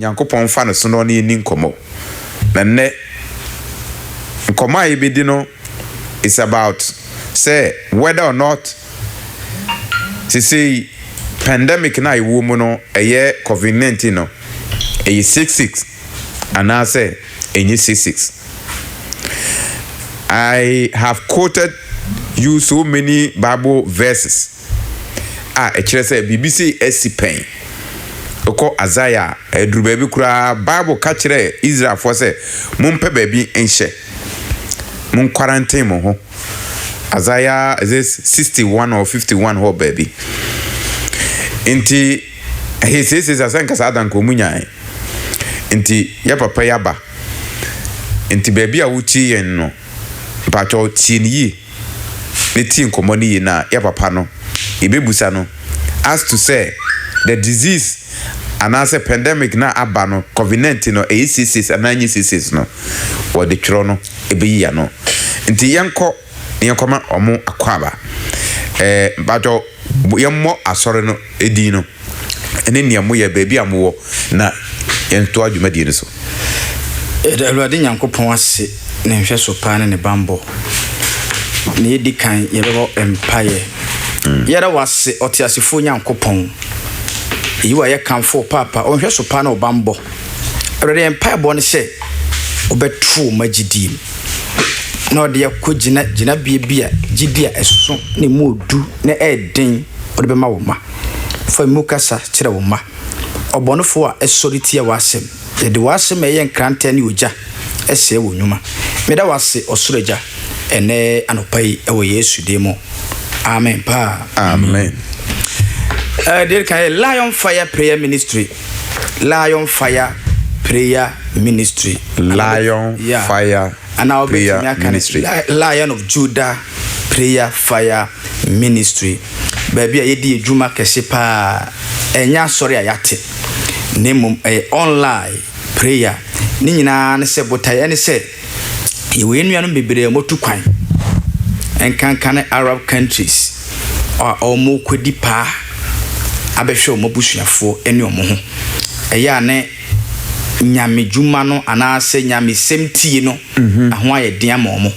Nyankopɔn mfa no so na ɔne yɛnni nkɔmmɔ. Na nnɛ nkɔmmɔ a yɛbɛdi no is about sɛ whether or not sesei pandemic no a yɛwɔ mu no ɛyɛ covid 19 no ɛyɛ 66. anaasɛ ɛnyɛ seasick. I have quoted you so many bible verses a ɛkyerɛ sɛ biribi sei asi pɛn. Wokɔ Isaiah a, ɛduru baabi koraa bible ka kyerɛɛ Israelfoɔ sɛ mompɛ baabi nhyɛ. Mo quarantine mo ho. Isaiah is it 61 or 51 hɔ baabi. Nti Ɛhe seesei saa sɛ nka saa da nka ɔmo nyae nti yɛ papa yi aba nti baabi a wotie yɛn no mpakyɛw tie no yie na tie nkɔmɔ no yie na yɛ papa no yɛbɛbusa no as to sɛ the disease anaasɛ pandemic no a aba no covid 19 no ɛyɛ seesei anaa ɛnyɛ seesei no wɔde twerɛ no ɛbɛyi yɛ ano nti yɛnkɔ na yɛnkɔma wɔn akwaaba. Ɛɛ mpakyɛw, yɛmmɔ Asɔre no din no ne nea moyɛ, baabi a mowɔ, na yɛntoa dwumadie no so. Yɛda Awurade Nyankopɔn ase ne nhwɛso pa ne ne bammɔ. Nea edi kan, yɛbɛbɔ mpaeɛ. Yɛda wo ase, ɔteasefoɔ Nyankopɔn, yiw a yɛkamfo wo paapa, wo nhwɛso pa ne wo bammɔ. Awurade, yɛn mpaebɔ ne sɛ wobɛto wo mma gyidie mu. na ɔde akɔgyina gyinabea bi a gyidi a ɛso na emu yɛ du na ɛyɛ den ɔde bɛma wo mma. Fa emu kasa kyerɛ wo mma. Ɔbɔnefo a ɛsɔre tia w'asɛm, yɛde w'asɛm a ɛyɛ nkrantɛ ne ogya sɛe wo nnwuma. Meda wo ase, Ɔsoro Agya, ɛnnɛ anɔpa yi wɔ Yesu din mu. Amen paa. Amen. Eh, deɛ kan yɛ Lion Fire Prayer Ministry. Lion Fire Prayer Ministry. Lion yeah. Fire Anaa Prayer Ministry. Lion of Judah Prayer Fire Ministry. Baabi a yɛdi adwuma kɛse paa. Ɛnyɛ asɔre a yɛate. Na mmom ɛyɛ online prayer. Ne nyinaa ne sɛ botaeɛ ne sɛ Yɛwɔ yɛn nuanom bebree a wɔatu kwan, ɛnkanka ne Arab countries a wɔrekɔdi paa abɛhwɛ wɔn abusuafoɔ ne wɔn ho. Ɛyɛ a ne nyamedwuma no anaasɛ nyamesɛm tie no, ɛho ayɛ den ama wɔn.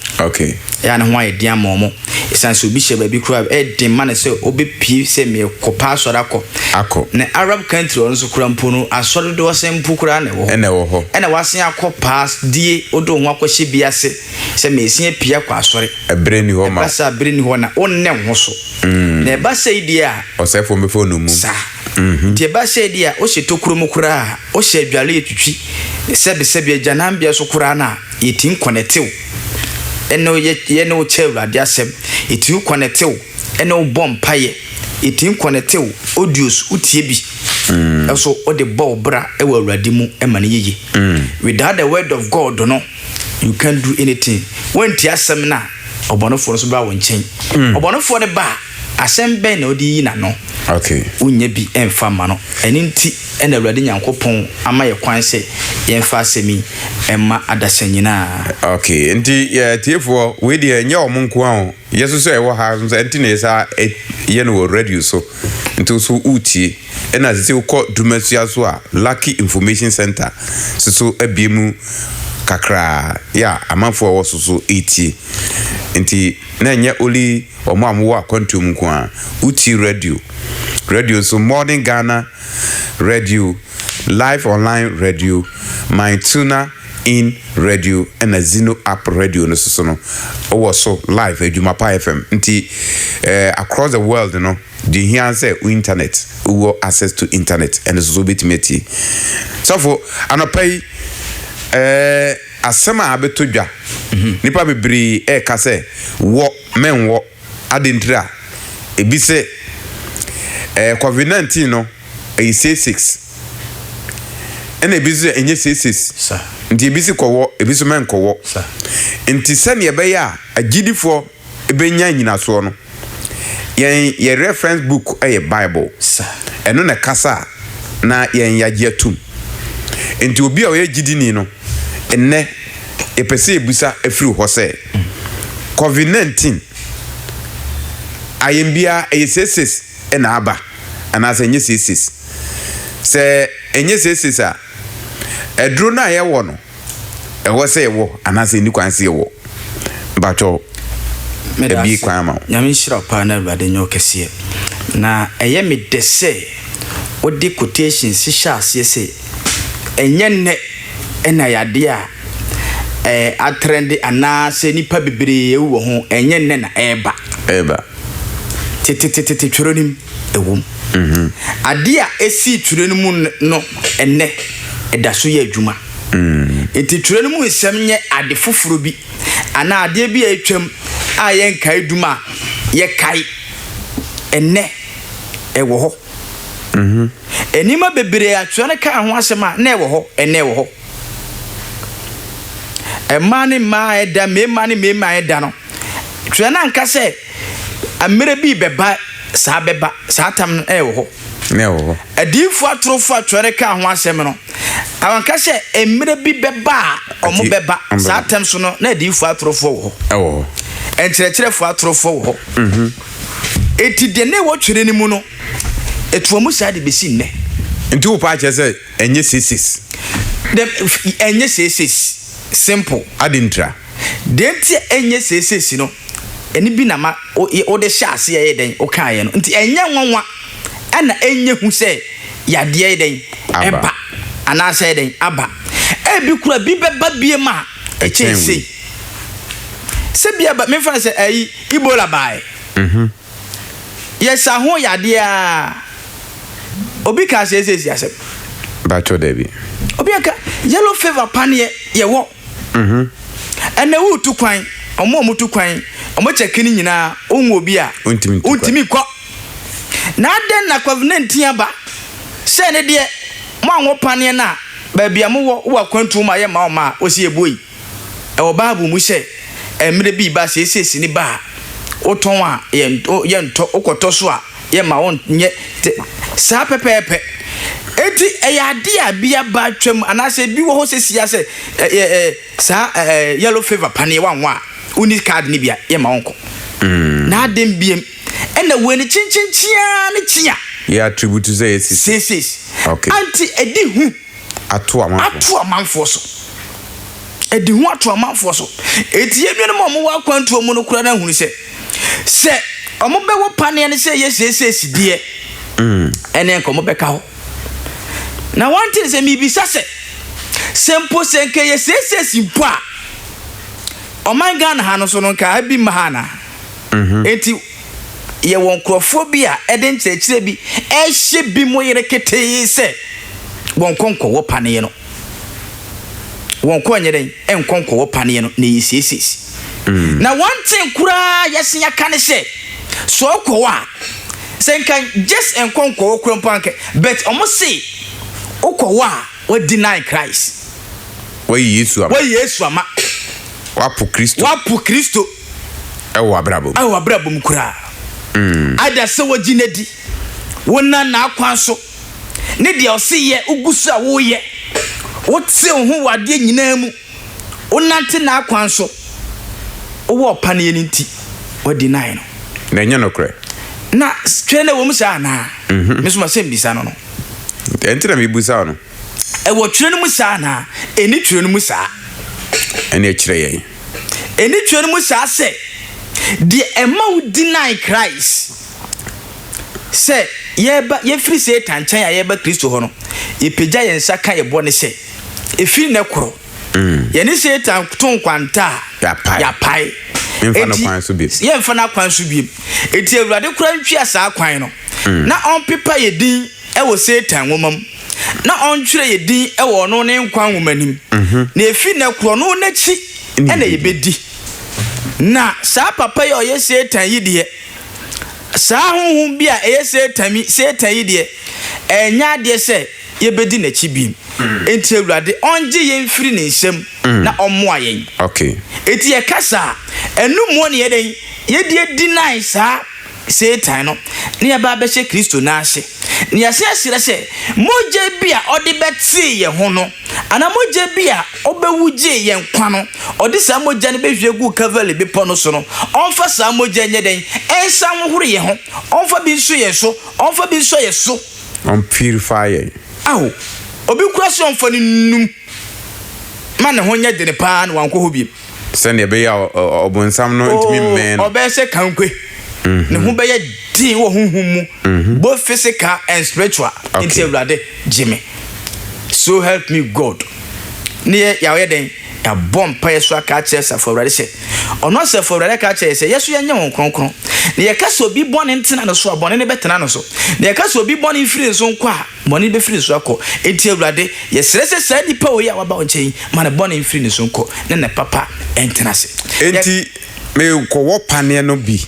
Ɛyɛ a ne ho ayɛ den ama wɔn. Esiane sɛ obi hyɛ baabi koraa a, ɛyɛ den ma no sɛ obepue sɛ merekɔpa asɔre akɔ. Akɔ. Na Arab country a ɔno nso koraa mpo no, asɔre dodow asen mpo koraa na ɛwɔ hɔ. Ɛna ɛwɔ hɔ. Ɛna wasen akɔ paa die, wode wo ho akɔhyɛ bi ase sɛ meresan apue akɔ asɔre. Bere nni hɔ ma wo. Ɛba saa a, bere nni hɔ na wonnɛ wo ho so. Na ɛba sei deɛ a. Ɔsɛefo no bɛfa wo nnommum. Saa. Enti ɛba sei deɛ a, wohyɛ tokuro mu koraa a, wohyɛ adwareɛ twitwi, sɛbesɛbe, agyananbea so koraa no a, yɛtumi kɔnɛte wo. ɛne wo yɛ yɛ ne wo kyɛ Awurade asɛm. Ɛtumi kɔnɛte wo ɛne wo bɔ mpaeɛ. Ɛtumi kɔnɛte wo audios wotie bi nso wode bɔ wo bra wɔ Awurade mu ma no yɛye. Without the word of God no you can't do anything. Woantie asɛm no a ɔbɔnefoɔ no nso bɛba wo nkyɛn. Ɔbɔnefoɔ no ba a Asɛm bɛn na ɔde reyi n'ano? Wonnya bi mfa mma no. Ɛno nti na Awurade Nyankopɔn ama yɛn kwan sɛ yɛmfa asɛm yi mma adasa nyinaa. Ok, nti yɛ atiefoɔ, wei deɛ ɛnyɛ wɔn nko ara o, yɛ nso sɛ yɛwɔ ha nso ɛnti na yɛsa yɛ no wɔ radio so, nti wo nso woretie. Ɛna sisi wokɔ Dumasua nso a, Lucky Information Centre nso so abue mu kakra, yeah, amanfoɔ a ɛwɔ so nso retie, nti. na ɛnyɛ only wɔn a wɔwɔ akwantuo mu nko ara, wotie radio, radio nso Morning Ghana radio, Live Online radio, My Tuna In radio ɛna Zino App radio no soso no wɔ so live, Adwumapa FM, nti eh, across the world no, deɛ hia ara sɛ wo internet, wowɔ access to internet ɛno soso wobɛtumi atie. Sɔfo, anɔpa yi eh, Asɛm a abɛtɔ dwa, Nnipa bebree reka sɛ, Wɔ, mɛnwɔ. Adɛn ntira? Ebi se, Ɛɛ, Covid 19 no, ɛyɛ seiseiks. Ɛna ebi nso sɛ, Ɛnyɛ seiseiks. Nti ebi se, Kɔwɔ, ebi nso, Mɛnkɔwɔ. Nti sɛdeɛ ɛbɛyɛ a agyidifoɔ. benya nnyinasoɔ no, yɛn yɛ reference book yɛ Bible. Ɛno na ɛkasa a na yɛn yɛagye atom. Enti obi a ɔyɛ gyidini no, nnɛ yɛpɛ sɛ yɛbisa firi hɔ sɛ, Covid 19 ayɛnbia ɛyɛ seiseis na aba anaasɛ ɛnyɛ seiseis? Sɛ ɛnyɛ seiseis a, aduro no a yɛwɔ no, ɛwɔ sɛ yɛwɔ anaasɛ ɛni kwan sɛ yɛwɔ? Mpakyɛw, ɛbie kwan ama wo. Nyame nhyira wo paa na awurade nyɛ wo kɛseɛ. Na ɛyɛ me dɛ sɛ wode quotations hyɛ aseɛ sɛ ɛnyɛ nnɛ na ɛyɛ adeɛ a atrɛnde anaa sɛ nnipa bebree awu wɔ ho, ɛnyɛ nnɛ na ɛreba. Ɛreba. Tetetetete twerɛ no mu. ɛwɔ mu. Adeɛ a ɛsii twerɛ no mu no ɛnnɛ ɛda so yɛ adwuma. Enti twerɛ no mu nsɛm nyɛ ade foforɔ bi anaa adeɛ bi a atwam a yɛn nkaedum a yɛkae ɛnnɛ ɛwɔ hɔ. Nneɛma bebree a twerɛ no kaa ho asɛm a na ɛwɔ hɔ ɛnnɛ ɛwɔ hɔ. Mmaa ne mmaa a ɛda, mmarima ne mmarima a ɛda no, Twerɛ no anka sɛ mmerɛ bi rebɛba saa bɛba, saa tam no ɛwɔ hɔ. Na ɛwɔ hɔ. Adiyifoɔ atorofoɔ a Twerɛ no kaa ho asɛm no, anka sɛ mmerɛ bi bɛba a wɔn bɛba saa tam so no, na adiyifoɔ atorofoɔ wɔ hɔ. Ɛwɔ hɔ. Nkyerɛkyerɛfoɔ atorofoɔ wɔ hɔ. Mm-hmm. Eti deɛ na ɛwɔ Twerɛ no mu no, ɛtoa mu saa de bɛsi nnɛ. Nti wo paa kyerɛ sɛ ɛnyɛ seesees? Ɛnyɛ seesees. Simple. Adi ntra. Deɛ nti a ɛnyɛ seeseesi no, ɛno bi na ma wode hyɛɛ aseɛ yɛ dɛn wokaeɛ no. Nti ɛnyɛ nwanwa na ɛnyɛ hu sɛ yadeɛ yɛ dɛn ɛba anaasɛ yɛ dɛn aba. Ɛbi kora bi bɛba biem a ɛkyɛn sei. Sɛ bi ɛba, memfa no sɛ ɛyi Ebola baɛ. Yɛsa ho yadeɛ aa, obi kaa seeseesi asɛm. Bɛakyɛw dabi. Obi aka yellow fever paneɛ yɛwɔ. Ɛnɛ wotu kwan, wɔn a wɔtu kwan, wɔkyɛ kini nyinaa, wohu obi a, wontumi nkɔ. Na adɛn na Covenantin aba? Sɛ ɛno deɛ, mo a mo paneɛ no a, baabi a mowɔ, wowɔ akwantuo mu a, yɛmma wo mma a, wɔsi yɛbɔ yi. Ɛwɔ Bible mu sɛ, mmerɛ bi reba, sɛ ɛsɛ sini ba a, wotɔn a, yɛntɔ, wokɔtɔ so a, yɛ ma wɔnyɛ te saa pɛpɛɛpɛ. Enti ɛyɛ adeɛ a bi aba atwam anaasɛ bi wɔ hɔ sesia sɛ ɛyɛ ɛ saa ɛ ɛ yellow fever paneɛ wanwa a wonni card no bi a yɛma wɔnkɔ. Na adɛn biam ɛna wei no kyenkyenkyen ara ne kyen a. Yɛ attribute sɛ ɛsisi. Seesees. Okay. Anti ɛdi hu. ato amanfoɔ so. Ato amanfoɔ so. Ɛde hu ato amanfoɔ so. Enti yɛn nuanom a wɔwɔ akwantuo mu no koraa no ahunu sɛ, sɛ wɔbɛwɔ paneɛ no sɛ ɛyɛ seesei sideɛ, ɛnneɛ anka wɔbɛka hɔ. Na wɔnte ne sɛ mebisa sɛ, sɛ mpo sɛ anka ɛyɛ seesei si mpo a, ɔman Ghana ha no so no anka ebi mma ha anaa? Enti yɛwɔ nkurɔfoɔ bi a ɛde nkyerɛkyerɛ bi ɛhyɛ bi mo yere ketee sɛ wɔn kɔ nkɔ wɔ paneɛ no wɔn kɔ nyɛ dɛn nkɔ nkɔ wɔ paneɛ no na ɛyɛ siesees mm. na wɔn ten koraa yɛsen aka ne sɛ so ɔkɔ wɔ a sɛ nka just nkɔ nkɔ wɔ kura mpo anka but wɔn se wokɔ wɔ a wɔadi nine Christ wɔyɛ Yesu ama wɔyɛ Yesu ama wapo Kristo wapo Kristo Ɛwɔ w'abrabɔ mu. Ɛwɔ w'abrabɔ mu koraa. Either sɛ wogye no adi, wonam n'akwan so, ne deɛ ɔse yɛ, wogu so a woreyɛ, wote wo ho wɔ adeɛ nyinaa mu, wonante n'akwan so, wowɔ ɔpa no yɛ no nti, woadeny no. Na ɛnyɛ nokorɛ. Na twɛ no ɛwɔ mu saa anaa? Mhm. Me nso masɛ mbisa no no. Ɛnti na mebusa wo no. Ɛwɔ Twerɛ no mu saa anaa? Ɛnni Twerɛ no mu saa. Ɛnneɛ kyerɛ yɛn. Ɛnni Twerɛ no mu saa sɛ deɛ ɛma wo deny Christ sɛ yɛba, yɛfiri Satan nkyɛn a yɛba Kristo hɔ no, yɛpagya yɛn nsa ka yɛ bɔne sɛ, ɛfiri nnɛ koro, mm. yɛne Satan to nkwanta a yɛapae. Enti yɛmfa no akwan so biem. Enti Awurade koraa ntwea saa kwan no mm. na ɔmpepa yɛ din wɔ Satan nwoma mu na ɔntwerɛ yɛn din wɔ ɔno ne nkwa nwoma no mu, na ɛfiri nnɛ korɔ no n'akyi na yɛbɛdi. Na saa papa yi a ɔyɛ Satan yi deɛ, saa honhom bi a ɛyɛ Satan mi, Satan yi deɛ, ɛnyɛ adeɛ sɛ yɛbɛdi n'akyi bio. Enti Awurade ɔngye yɛn mfiri ne nsam na ɔmmoa yɛn. Enti yɛka saa a, ɛno mu na yɛdɛn? Yɛde adi nae saa Satan no ne aba abɛhyɛ Kristo nan ase, na yɛasan ahyira sɛ mogya bi a ɔde bɛtee yɛn ho no, anaa mogya bi a ɔbɛwu gyee yɛn nkwa no, ɔde saa mogya no bɛhwie agu Kalvary Bepɔ no so no, ɔmfa saa mogya nyɛ dɛn? Ɛnsan nhohoro yɛn ho, ɔmfa bi nso yɛn so, ɔmfa bi nsɔ yɛn so. Ɔmpurify yɛn. Ao, obi kura sɛ ɔmfa no nnum ma ne ho nyɛ dene paa na wankɔ hɔ bio. Sɛnea ɛbɛyɛ a ɔbonsam no ntumi mmɛn no. Oh, ɔbɛyɛ sɛ kankwe. Mm-hmm. Ne ho bɛyɛ din wɔ honhom mu, mm-hmm. both physical and spiritual. Nti Awurade gye me. So help me God. Ne yɛ yɛayɛ dɛn? yɛabɔ mpaeɛ so aka akyerɛ asafo awurade sɛ ɔno asafo awurade aka akyerɛ sɛ yɛso yɛnyɛ wɔn kronkron na yɛka sɛ obi bɔne ntena no so a bɔne no bɛtena no so na yɛka sɛ obi bɔne mfiri nso nkɔ a Bɔne bɛfiri ne so akɔ. Enti Awurade, yɛsrɛ sɛ saa nipa wei a waba wo nkyɛn yi, ma ne bɔne mfiri ne so nkɔ, na ne papa ntena ase. Yɛ. Enti mekɔwɔ paneɛ no bi,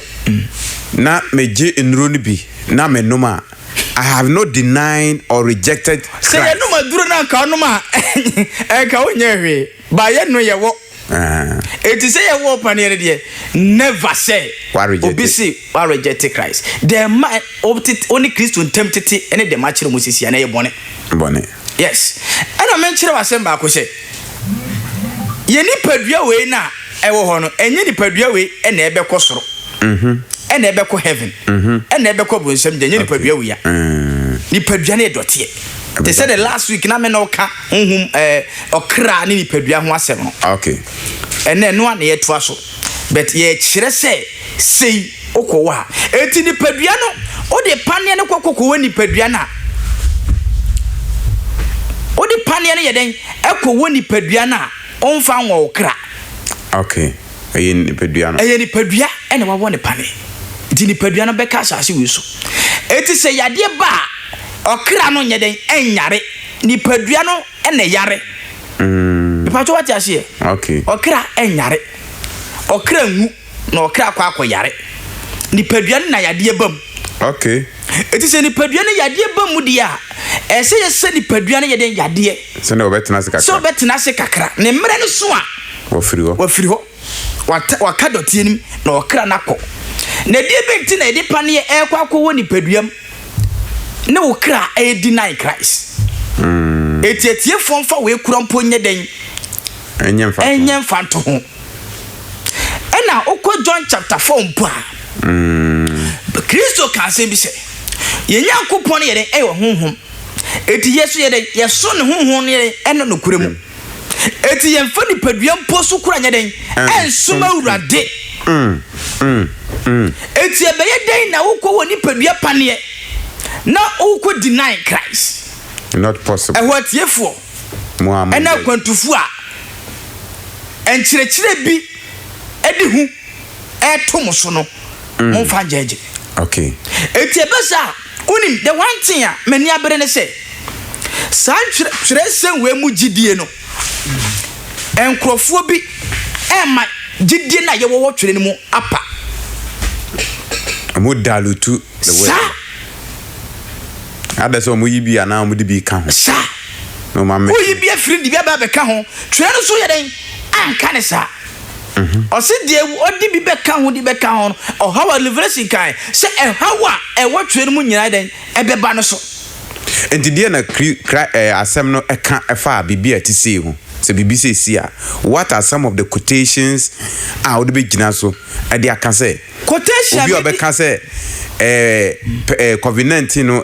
na megye nnuro no bi, na menom a, I have not denied or rejected Christ. Sɛ yɛnom aduro no a, anka wonom a, anka wonyɛɛ hwee, but yɛn no yɛwɔ. Eti sɛ yɛwɔ ɔpaneɛ no deɛ never sɛ obi se warejɛte Christ dɛm ma wo ne Kristo ntam tete ne dɛm akyerɛ mu sisi a na ɛyɛ bɔne. Bɔne. Yes. Ɛna menkyerɛ wo asɛm baako sɛ yɛ nipadua wei na ɛwɔ hɔ no ɛnyɛ nipadua wei ɛna ɛbɛkɔ soro. Mhm. Ɛna ɛbɛkɔ heaven. Mhm. Ɛna ɛbɛkɔ bronsam gya ɛnyɛ nipadua wei a. Nipadua no yɛ dɔteɛ. Te sɛ the last week na me na ɔka honhom ɛɛ ɔkra ne nipadua ho asɛm no. Okay. Ɛnɛ no a na yɛtoa so but yɛkyerɛ sɛ sei wokɔ wɔ a eti nipadua no wode paneɛ no kɔ kɔkɔ wɔ nipadua no a wode paneɛ no yɛ dɛn ɛkɔ wɔ nipadua no a ɔmfa nwɔ wo kra. Okay. Ɛyɛ nipadua no. Ɛyɛ nipadua ɛna wawɔ ne pane nti nipadua no bɛka asase wei so eti sɛ yadeɛ ba a ɔkra no nyɛ dɛn ɛnyare. Nipadua no na ɛyare. Mm. Mepatwa wate aseɛ. Okay. Ɔkra ɛnyare. Ɔkra nwu na ɔkra akɔ akɔ yare. Nipadua no na yadeɛ bam. Okay. Eti sɛ nipadua no yadeɛ bam mu deɛ a, ɛsɛ yɛsɛ nipadua no yɛ den yadeɛ. Sɛnea ɔbɛtena ase kakra. Sɛ ɔbɛtena ase kakra. Ne mmerɛ no so a. Wafiri hɔ. Wafiri hɔ. Waka dɔteɛ no mu na ɔkra no akɔ. Na ɛdeɛ bɛ nti na yɛde paneɛ ɛrekɔ akɔ wɔ nipadua mu ne wo kra ɛyɛ deny Christ? Mm. Eti atiefoɔ mfa wei kura mpo nyɛ dɛn? Ɛnyɛ mfa ɛnyɛ mfa nto ho. Ɛna wokɔ John chapter 4 mpo a, mm. Kristo ka asɛm bi sɛ, yɛn Nyankopɔn yɛ dɛn ɛyɛ honhom. Eti yɛ so yɛ dɛn yɛso ne honhom no yɛ dɛn ɛno nokorɛ mu. Mm. Enti yɛmfa nipadua mpo so kora nyɛ dɛn nsom Awurade. Enti ɛbɛyɛ dɛn na wokɔ wɔ nipadua paneɛ na wokɔ deny Christ? Not possible. Ɛhɔ atiefoɔ ɛna akwantufoɔ a nkyerɛkyerɛ bi ɛde hu ɛto mo so no, momfa ngyɛɛgye. Okay. Enti ɛbɛ saa a, Wonim, the one thing a m'ani abere ne sɛ, saa ntwerɛ, twerɛsɛm wei mu gyidie no, nkorɔfoɔ bi ɛrema gyidie no a yɛwɔ wɔ twerɛ no mu apa. Wɔn dalutu the word. Saa. Ada sɛ wɔn yi bi anaa wɔn de bi ka ho. Saa. Na wɔn amɛ. Woyi bi afiri de bi aba abɛka ho, twerɛ no so yɛ dɛn anka ne saa. Ɔse deɛ ɔde bi bɛka ho de bɛka ho no, ɔhaw a Revelation kae sɛ ɛhaw a ɛwɔ twerɛ no mu nyinaa dɛn ɛbɛba no so. Enti deɛn na kri kra ɛɛ asɛm no ɛka ɛfa biribi a ɛte sei ho? Sɛ biribi sei si a, what are some of the quotations a wode bɛgyina so ɛde aka sɛ Quotation a obi a mɛdi. ɔbɛka sɛ ɛɛ pɛ ɛɛ covid nineteen no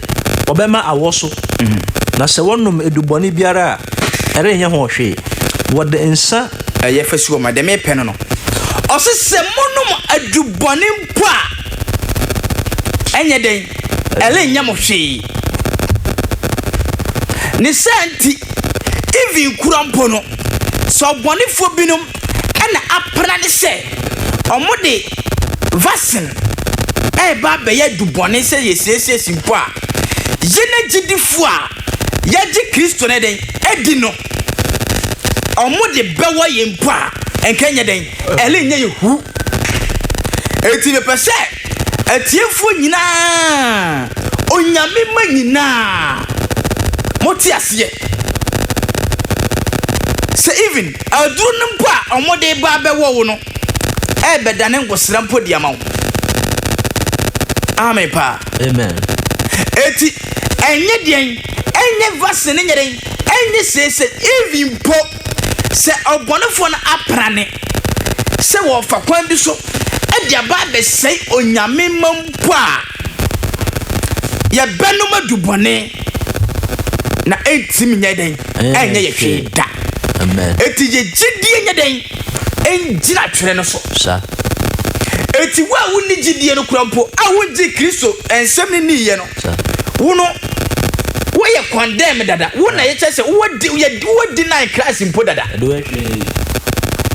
wɔbɛma awɔ so, na sɛ wɔnom adubɔne biara a, ɛrenyɛ ho hwee. Wɔde nsã a ɛyɛ fɛ si wɔn ma, deɛ merepɛ no no. Ɔse sɛ monom adubɔne mpo a, ɛnyɛ dɛn? Ɛrenyɛ mo hwee. Ne saa nti, even kura mpo no, sɛ ɔbɔnefoɔ binom na apra ne sɛ wɔde Vaccine reba abɛyɛ adubɔne sɛ yɛsiesie si mpo a, yɛn agyidifo a yɛagye Kristo no dɛn adi no, ɔmo de bɛwɔ yɛn mpo a, nka ɛnyɛ dɛn, ɛrenyɛ yɛn hu. Enti mepɛ sɛ atiefoɔ nyinaa, Onyame mma nyinaa, mote aseɛ sɛ even aduro no mpo a ɔmo de reba abɛwɔ wo no, ɛrebɛdane ngosra mpo de ama wo. Amen paa. Amen. Eti ɛnyɛ deɛn, ɛnyɛ vaccine, ɛnyɛ deɛn, ɛnyɛ seese, even mpo sɛ ɔbɔnefoɔ no aprane sɛ wɔfa kwan bi so de aba abɛsɛe Onyame mma mpo a, yɛbɛnom adubɔne. na ɛntimi nyɛ dɛn ɛnyɛ yɛ hwee da ɛti yɛ gyidie nyɛ dɛn ɛngyina twerɛ no so ɛti wo a wonni gyidie no kora mpo a wongye kristo ɛnsɛm no nniiɛ no wo no woyɛ condemn dada wo na yɛkyɛ sɛ wowɔ deny christ mpo dada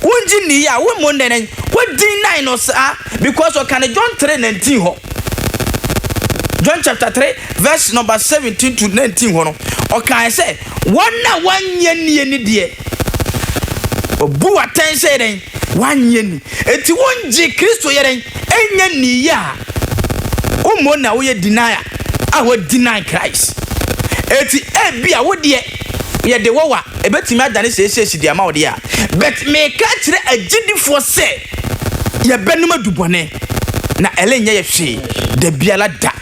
wongye nniiɛ a wo mmɔ nnɛnɛn wodin nine no saa because ɔka no john 3 19 hɔ John chapter 3 verse number 17 to 19 hɔ no, ɔkae sɛ, Wɔn a wɔanyɛ nni ani deɛ, wɔbu atɛn sɛ yɛdɛn? Wɔanyɛ nni. Enti wongye Kristo yɛdɛn? Ɛnyɛ nni yɛ a, wommɔ na woyɛ deny a, a wɔ deny Christ. Enti ebi a wo deɛ yɛde wɔ wa, ɛbɛtumi adane seesei si de ama wo deɛ a. But meka kyerɛ agyidifoɔ sɛ yɛbɛnom adubɔne. na ɛlɛ nyɛ yɛ hwee da biara da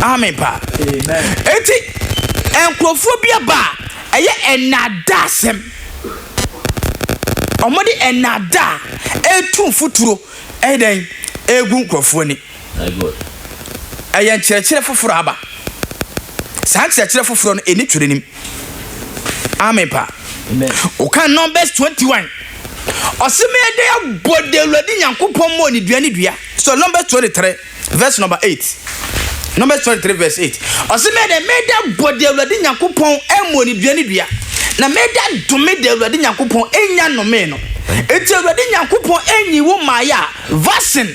amen pa eti nkurɔfoɔ bi aba a ɛyɛ ɛnada asɛm wɔde ɛnada etu mfuturo ɛdɛn egu nkurɔfoɔ ni. Ɛyɛ nkyerɛkyerɛ foforɔ aba. Saa nkyerɛkyerɛ foforɔ no ɛni twerɛ nim. Amen pa. Woka Numbers 21. Ɔse mede abɔ de Awurade Nyankopɔn mmɔ ne dua ne dua. So Numbers 23 verse number 8. Numbers 23 verse 8. Ɔse mede mede abɔ de Awurade Nyankopɔn mmɔ ne dua ne dua. Na mede adome de Awurade Nyankopɔn enya nome no. Eti Awurade Nyankopɔn enyi wo maayɛ a vaccine.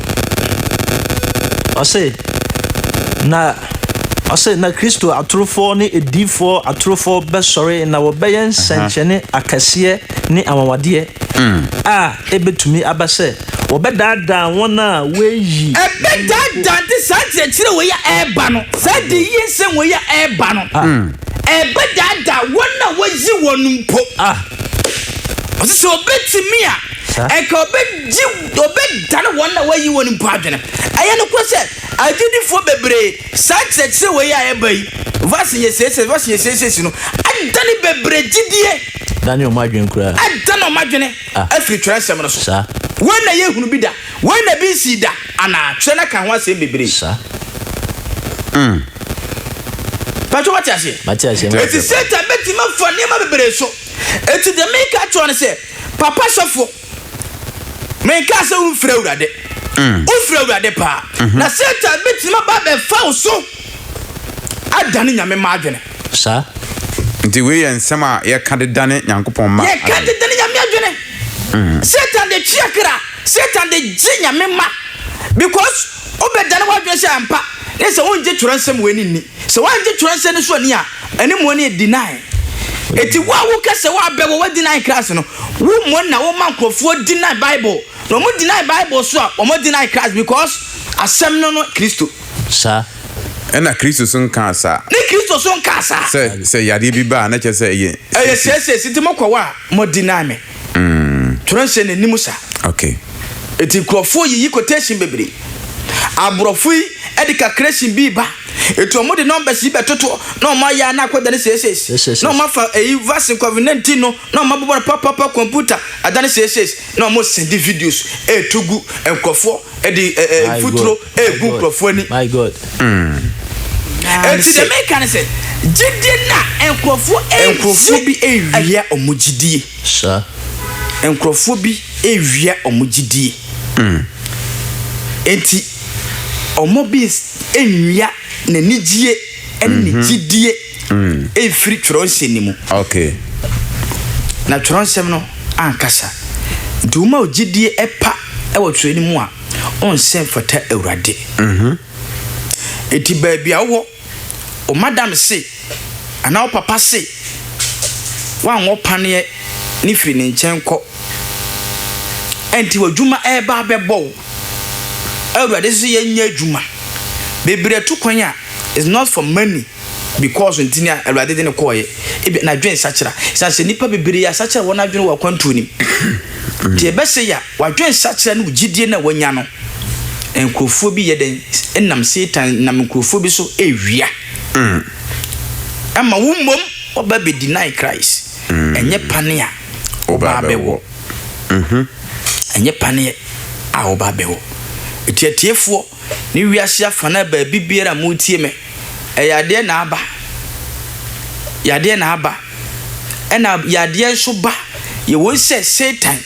Ɔse, na ɔse, na Kristo atorofoɔ ne adiyifoɔ atorofoɔ bɛsɔre na wɔbɛyɛ nsɛnkyerɛnne akɛseɛ ne anwanwadeɛ mm. a ɛbɛtumi aba sɛ wɔbɛdaadaa wɔn a wɔayi ɛbɛdaadaa de saa nkyerɛkyerɛ wei a ɛreba no saa de yie nsɛm wei a ɛreba no ah. mm. ɛbɛdaadaa wɔn a wɔayi wɔn mpo ah. ɔse sɛ ɔbɛtumi a ɛka ɔbɛgye na ɔbɛdane wɔn a wɔayi wɔn mpo adwene. Ɛyɛ nokorɛ sɛ, agyidifoɔ bebree, saa nkyerɛkyerɛ wei a ɛreba yi, verse yɛ siesie, verse yɛ siesiesie no, adane bebree gyidie, Dane wɔn adwene koraa. adane wɔn adwene Ah. afiri twerɛnsɛm no so. Saa. Wei na yɛhunu bi da? Wei na bi nsii da anaa? Twerɛ no aka ho asɛm bebree. Saa. Patro wate aseɛ? Mate aseɛ, mate Eti aseɛ. Satan bɛtumi afa nneɛma bebree so. Eti deɛ meka akyerɛ wo ne sɛ, papa sɔfoɔ, Menkaa sɛ womfiri Awurade. Wofiri Awurade paa. Na Satan bɛtumi aba abɛfa wo so adane Nyame mma adwene. Saa. Nti wei yɛ nsɛm a yɛka de dane Nyankopɔn mma adwene. Yɛka de dane Nyame adwene. Satan de twe akra. Satan de gye Nyame mma. Because wobɛdane w'adwene sɛ ampa ne sɛ wongye twerɛnsɛm wei no nni. Sɛ wɔanngye twerɛnsɛm no so anni a, ɛne mmɔɔ no yɛ deny. Enti wo a wo ka sɛ wo abɛ wɔ wɔ deny Christ no, wo mmɔɔ na wo ma nkorɔfoɔ deny Bible. Na wɔn deny Bible so a, wɔn deny Christ because Asɛm no no Kristo. Saa. Ɛna Kristo so nkaa saa. Ne Kristo so nkaa saa. Sɛ, sɛ yadeɛ bi ba a, na kyerɛ sɛ ɛyɛ. Ɛyɛ seesei, enti mo kɔ hɔ a, mo deny me. Twerɛ nhyɛ n'anim sa. Eti nkurɔfoɔ yiyi quotation bebree. Aborɔfo yi de calculation bi ba. Eti wɔn de numbers yi bɛtoto na wɔn ayɛ a na akɔ dane sei sei. Na wɔn afa eyi vaccine covid 19 no na wɔn abobɔ no papapapa computer adane sei sei. Na wɔn send videos ɛɛto gu nkurɔfoɔ. ɛde ɛɛ mfuturo ɛɛbu nkurɔfoɔ ani. my god. ɛti deɛ meka ne sɛ gyidie na nkurɔfoɔ ɛnkurɔfoɔ bi ɛwia wɔn gyidie. sa. nkurɔfoɔ bi ɛwia wɔn gyidie. ɛti wɔn bi ɛnwia n'anigyeɛ ɛne ne gyidie. mm. mfiri twerɛ nsɛm no mu okay. na twerɛ nsɛm no ankasa nti woma ogyedie ɛpa ɛwɔ twerɛ no mu a ɔnsɛ mfata awurade mhm. nti baabi a wowɔ o madam se anaa wo papa se woanwɔ paneɛ ne firi ne nkyɛn kɔ ɛnti w'adwuma ɛreba abɛbɔ wo awurade so yɛnyɛ adwuma bebree to kwan a is not for money because nti ni a Awurade de no kɔɔeɛ. Ebia n'adwene sakyera. Ɛsiane sɛ nnipa bebree asakyera wɔn adwene wɔ akwantuo no mu. Nti ɛbɛsɛ yɛ a w'adwene sakyera no wo gyidie no a wanya no. Nkurɔfoɔ bi yɛ dɛn nam Satan nam nkurɔfoɔ bi so ɛwia. Mm. Ɛma wo mmom wɔba bɛ deny Christ. Mm. Ɛnyɛ pane a ɔbaa bɛwɔ. Mm-hmm. Ɛnyɛ paneɛ a ɔbaa bɛwɔ. Ɛti atiefoɔ ne wiase afanaa baabi biara a moretie me, yadeɛ na aba. Yadeɛ na aba. Ɛna yadeɛ nso ba. Yɛwɔ sɛ Satan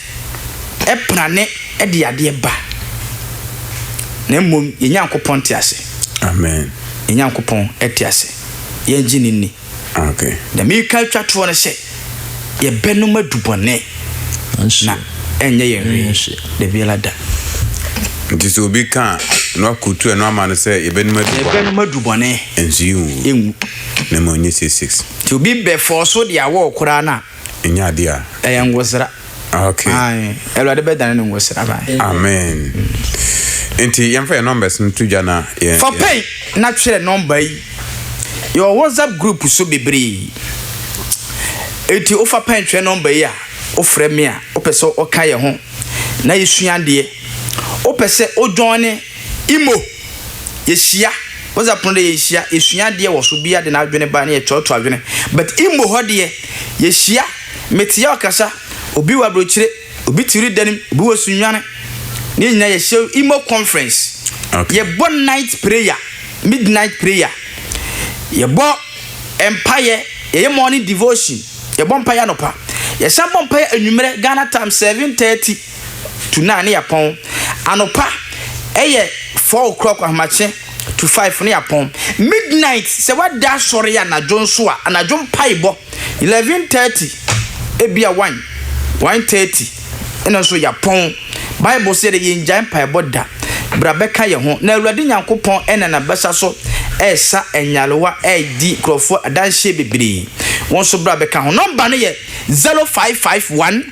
prane de yadeɛ ba. Na mmom, yɛn Nyankopɔn te ase. Amen. Yɛn Nyankopɔn te ase. Yɛngye no nni. Deɛ mereka atwa toɔ no sɛ, yɛbɛnom adu bɔne na ɛnyɛ yɛn hwee da biara da. Nti sɛ obi ka a, na wakurutu ɛno ama no sɛ yɛbɛnom adu bɔne. Yɛbɛnom adu bɔne. Nso yɛnwu. Na mmom nyɛ six six. Nti obi bɛfɔɔso deɛ awɔ koraa no a. Ɛnyɛ adeɛ a. Ɛyɛ nwosra. Okay. Aye. Awurade bɛdane ne ngo sraba. Amen. Nti yɛmfa yɛn numbers no to dwa na yɛn. Fa pɛn na twerɛ nɔmba yi. Yɛwɔ WhatsApp group so bebree. Eti wofa pɛn twerɛ nɔmba yi a wofrɛ me a wopɛ sɛ ɔka yɛn ho na yɛsua adeɛ. Wopɛ sɛ wodwɔn ne imo yɛhyia WhatsApp no deɛ yɛhyia yɛsua adeɛ wɔ so bia de n'adwene ba ne yɛtoatoa adwene but imo hɔ deɛ yɛhyia. Metia ɔkasa, obi wɔ abrokyire, obi te wiri danem, obi wɔ sunwane, ne nyina yɛ hyɛ imo conference, yɛ bɔ night prayer, midnight prayer, yɛ bɔ mpaeɛ, yɛ yɛ morning devotion, yɛ bɔ mpaeɛ anɔpa, yɛ san bɔ mpaeɛ anwummerɛ Ghana time 7:30. to nine ne yɛapɔn. Anɔpa yɛ four o'clock ahomakye to five ne yɛapɔn. Midnight sɛ woada asɔre anadwo nso a, anadwo mpaebɔ eleven thirty ebia one, one thirty ɛno nso yɛapɔn. Bible sɛ yɛde yɛngyae mpaebɔ da. Bra bɛka yɛn ho na Awurade Nyankopɔn nam n'abasa so resa nyarewa, redi nkurɔfoɔ adanseɛ bebree. Wo nso bra bɛka ho. Nɔmba no yɛ zero five five one.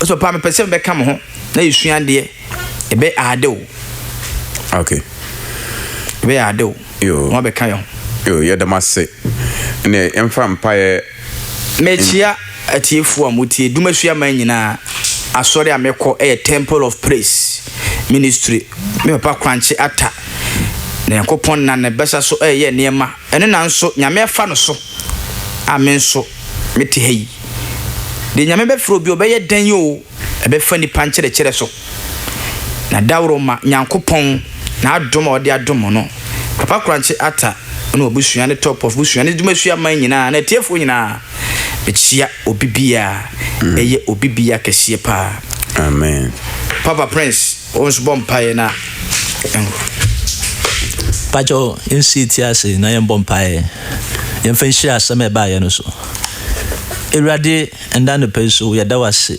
Ɔsɛ paa mepɛ sɛ mebɛka mo ho na yɛsua adeɛ. Ɛbɛyɛ ade o. Okay. Ɛbɛyɛ ade o. Yo. Mo abɛka yɛ ho. Yo, yɛda mo ase. Ɛnneɛ yɛmfa mpaeɛ. Mekyia atiefoɔ a motie Dumasua man nyinaa. Asɔre a mekɔ yɛ Temple of Praise Ministry. Me papa Korankye Atta, na Nyankopɔn nam ne basa so reyɛ nneɛma. Ɛno na nso Nyame afa no so a me nso mete ha yi. Deɛ Nyame bɛfrɛ obi ɔbɛyɛ dɛn oo ɛbɛfa nipa nkyerɛkyerɛ so. Na daworo ma Nyankopɔn n'adom a ɔde adom mo no. Papa Korankye Atta ne w'abusua ne Top of busua ne Dumasua man nyinaa ne atiefoɔ nyinaa mekyia obi biaa ɛyɛ obi biaa kɛseɛ paa. Amen. Papa Prince. Wo nso bɔ mpaeɛ na yɛnhwɛ. Pakyɛ wo nsi yɛti ase na yɛn bɔ mpaeɛ. Yɛn fɛ nhyira asɛm a ɛbaeɛ no so. Awurade ɛnna anɔpa yi so yɛda wase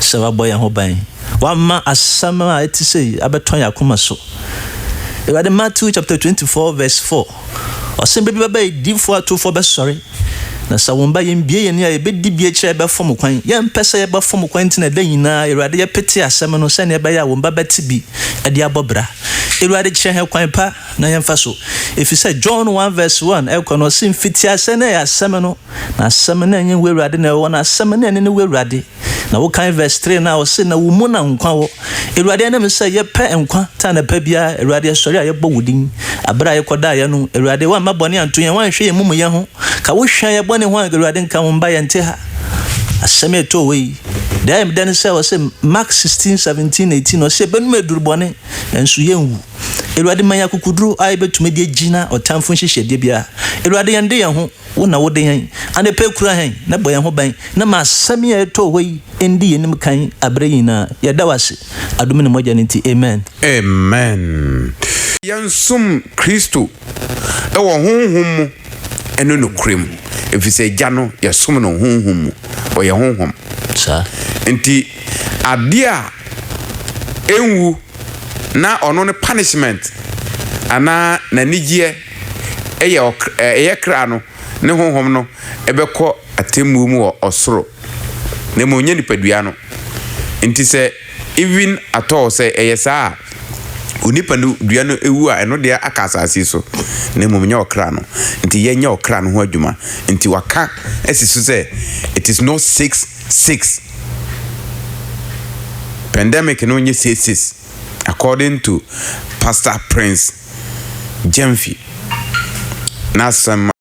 sɛ wabɔ yɛn ho ban. Wama asɛm a ɛte sɛ yi abɛtɔ yɛn akoma so. Awurade Matthew chapter 24 verse 4 Ɔse bere bi bɛba a adiyifoɔ atorofoɔ bɛsɔre, na sɛ wɔn ba, yɛnbue yɛn ani a yɛbɛdi bi akyire a yɛbɛfom kwan. Yɛmpɛ sɛ yɛbɛfom kwan nti na da nyinaa, Awurade, yɛpete asɛm no sɛnea ɛbɛyɛ a wɔn ba bɛte bi de abɔ bra. Awurade, kyerɛ yɛn kwan pa na yɛmfa so. Ɛfiri sɛ John one verse one ɛkɔ no, ɔse, Mfitiaseɛ na ɛyɛ Asɛm no, na Asɛm no ɛnyɛ Wo Awurade na ɛwɔ hɔ, na Asɛm no ɛne ne Wo Awurade. Na wokan verse three na ɔse na wo mu na nkwa wɔ. Awurade ɛne me sɛ yɛpɛ nkwa ta anapa biara. Awurade ɛsɔre a yɛbɔ wo din. Abere a yɛkɔdaeɛ no, Awurade woamma bɔne anto yɛn, woanhwɛ yɛn mumuyɛ ho. Ka wo hwɛ yɛn bɔne ho a, Awurade nka wo mba yɛnte ha. Asɛm a ɛtoo wei, deɛ ayɛ me dɛ ne sɛ ɔse Mark 16, 17, 18 ɔse yɛbɛnum aduru bɔne nanso yɛnwu. Awurade ma yɛn akokoduro a yɛbɛtumi de agyina ɔtamfo nhyehyɛdeɛ biara. Awurade yɛn de yɛn ho. Wo na wode yɛn anɔpa yi kura yɛn na bɔ yɛn ho ban na ma asɛm yi a ɛtoo hɔ yi ndi yɛn anim kan bere nyinaa. Yɛda wo ase adom ne mogya no nti. Amen. Amen. Yɛnsom Kristo wɔ honhom mu ne nokorɛ mu, ɛfiri sɛ Agya no, yɛsom no honhom mu. Ɔyɛ honhom. Saa. Nti adeɛ a ɛnwu na ɔno ne punishment anaa n'anigyeɛ. Ɛyɛ ɔkr ɛyɛ kra no ne honhom no bɛkɔ atemmuo mu wɔ ɔsoro, na mmom nyɛ nipadua no. Nti sɛ even at all sɛ ɛyɛ saa a, onipa no dua no wu a ɛno deɛ aka asase so, na mmom nyɛ ɔkra no. Nti yɛ nyɛ ɔkra no ho adwuma. Nti waka asi so sɛ it is not six six. Pandemic no nyɛ six six. According to Pastor Prince Gyamfi n'asɛm a.